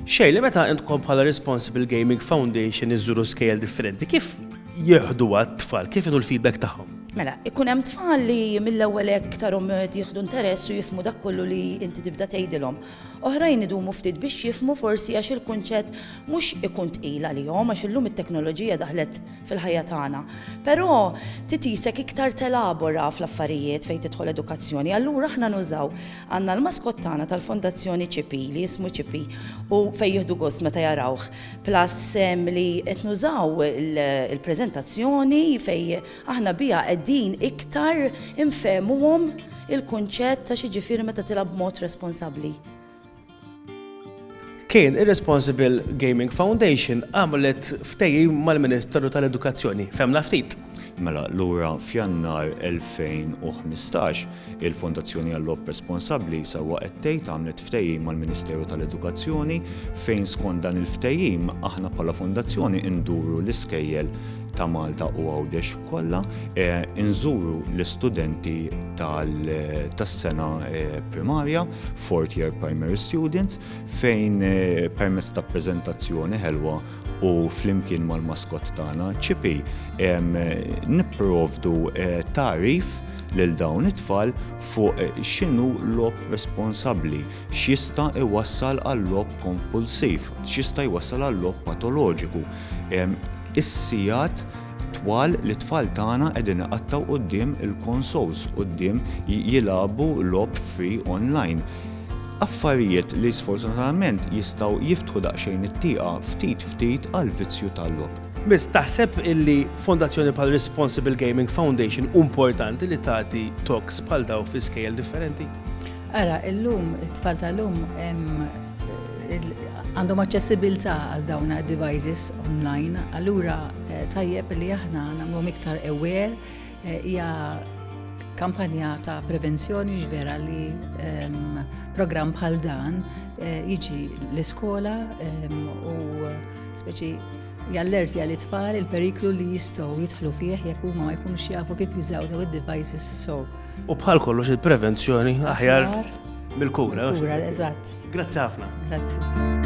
Xejn, li meta intkom bħala Responsible Gaming Foundation iżżuru skejjel differenti, kif jieħduha t-tfal, kif inhu l-feedback tagħhom? Mela, ikun hemm tfal li mill-ewwel hekk tarhom jieħdu interess u jifhmu dak kollu li inti tibda tgħidilhom. Oħrajn idumu ftit biex jifhmu forsi għax il-kunċett mhux ikun tqil għalihom għax illum it-teknoloġija daħlet fil-ħajja tagħna. Però titisek iktar telabora fl-affarijiet fejn tidħol edukazzjoni. Allura aħna nużaw għandna l-maskot tagħna tal-Fondazzjoni Ċipi li jismu Ċipi u fejn jieħdu gost meta jarawh. Plus li qed nużaw il-preżentazzjoni fejn aħna biha qegħdin iktar infehmuhom il-kunċett ta' xi ġifieri meta tilgħab b'mod responsabbli. Kien ir-Responsible Gaming Foundation għamlet ftehim mal-Ministeru tal-Edukazzjoni. Fehmna ftit. Mela, lura f'Jannar 2015, il-Fondazzjoni għall-Logħob Responsabbli sewwa qed tgħid għamlet ftehim mal-Ministeru tal-Edukazzjoni fejn skont dan il-ftehim aħna bħala Fondazzjoni nduru l-iskejjel ta' Malta u Għawdex. kollha nżuru l-istudenti tas-sena primarja, fourth year primary students, fejn permezz ta' preżentazzjoni ħelwa u flimkien mal-maskott tagħna Chippy nipprovdu tagħrif lil dawn it-tfal fuq x'inhu logħob responsabbli, x'jista' jwassal għal logħob kompulsiv, x'jista' jwassal għal logħob patoloġiku. Is-sigħat twal li t-tfal tagħna qegħdin iqattgħu quddiem il-consoles, quddiem jilagħbu logħob free online. Affarijiet li sfortunatament jistgħu jiftħu daqsxejn it-tieqa ftit ftit għall-vizzju tal-logħob. Biss, taħseb illi fondazzjoni bħal Responsible Gaming Foundation hu importanti li tagħti talks bħal dawn fi skejjel differenti? Ara, illum, it-tfal tal-lum għandhom aċċessibilità għal dawn devices online, allura eh, tajjeb li aħna nagħmluhom iktar aware eh, hija kampanja ta' prevenzjoni ġvera li ehm, program bħal dan eh, jiġi l-iskola ehm, u speċi jallerti għal it-tfal il-periklu li jistgħu jidħlu fih jekk huma ma jkunux jafu kif jużaw daw id-devices so. U bħal kollox il-prevenzjoni aħjar mill-kura. Kura, eżatt. Grazzi ħafna. Grazzi.